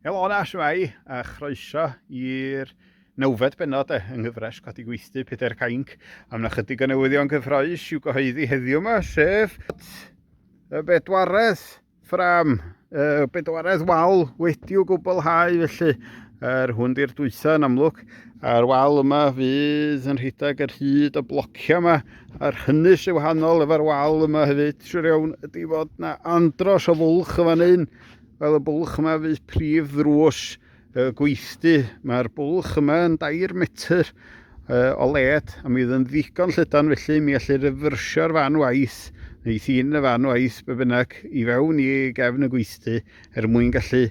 Helo yna, shwmae, a chroeso i'r nawfed benod e, yng nghyfres Codi Gweithdy Pedair Cainc. A mae yna chydig o newyddion gyffroes i'w gyhoeddi heddiw yma, sef y bedwaredd ffram, y bedwaredd wal wedi'w gwblhau felly. Yr hwn di'r dwytha yn amlwg. A'r wal yma fydd yn rhedeg yr hyd o blocio yma. A'r hynny sy'n wahanol efo'r wal yma hefyd, siwr iawn, ydy fod na andros o fwlch y fan hyn. Fel y bwlch yma fydd prif ddrws y gweithdy. Mae'r bwlch yma yn dair metr o led a mi fydd yn ddigon llydan felly mi allir ryfyrsio'r fan waith neu thîn y fan waith be bynnag i fewn i gefn y gweithdy er mwyn gallu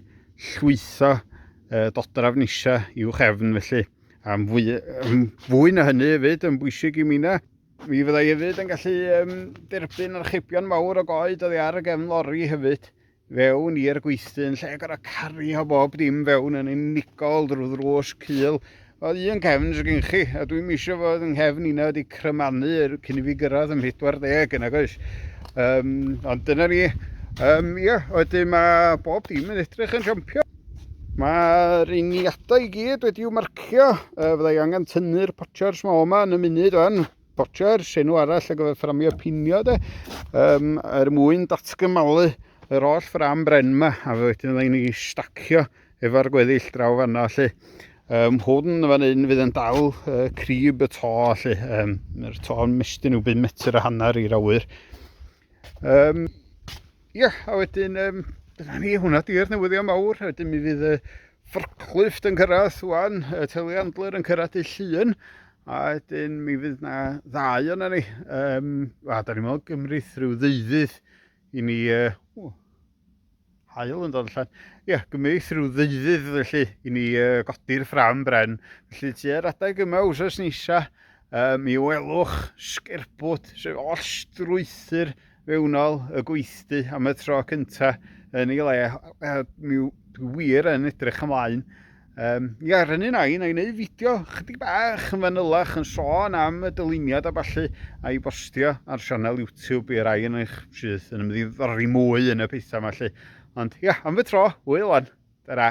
llwytho uh, dodraf nisa i'w chefn felly. Am fwy, am fwy na hynny hefyd yn bwysig i mi na. Mi fyddai hefyd yn gallu um, derbyn archebion mawr o goed oddi ar y gefn lori hefyd. fewn i'r gweithdy yn lle gorau cario bob dim fewn yn unigol drwy ddrws cul. O un cefn sy'n gen chi, a dwi'n misio fod yn nghefn un wedi crymanu cyn i fi gyrraedd yn 40 yn agos. Um, ond dyna ni. Um, ia, wedyn mae bob dim yn edrych yn siompio. Mae'r uniadau i gyd wedi'w marcio. Uh, fyddai angen tynnu'r potio'r smo yma yn y munud o'n. Botioer, senw arall ar gyfer fframio pinio de, um, er mwyn datgymalu yr oll ffram bren yma, a fe wedyn fydda ni'n stacio efo'r gweddill draw fanna lle. Um, hwn fan hyn fydd yn dal uh, crib y to lle, um, yr to yn mestyn yw byd metr a hanner i'r awyr. Um, ia, yeah, a wedyn, um, dyna ni, hwnna di'r newyddion mawr, a wedyn mi fydd y ffyrclyfft yn cyrraedd wan, y teli andler yn cyrraedd y llun, a wedyn mi fydd na ddau o'na ni. Um, a da ni'n meddwl gymryd rhyw ddeuddydd i ni, uh, hael yn dod allan. Ie, yeah, gymaith rhyw ddeuddydd felly i ni uh, godi'r ffram bren. Felly ti ar adeg yma wrthos nisa, uh, mi welwch sgerbwt, sef oll strwythyr fewnol y gweithdy am y tro cyntaf yn ei le. Uh, mi wir yn edrych ymlaen Um, ia, rhynnu na i, na i wneud fideo chydig bach yn fanylach yn sôn am y dyluniad a falle a'i bostio ar sianel YouTube i'r rai yn eich sydd yn ymddiddori mwy yn y pethau yma lle. Ond ia, am y tro, hwyl wan. Ta-ra.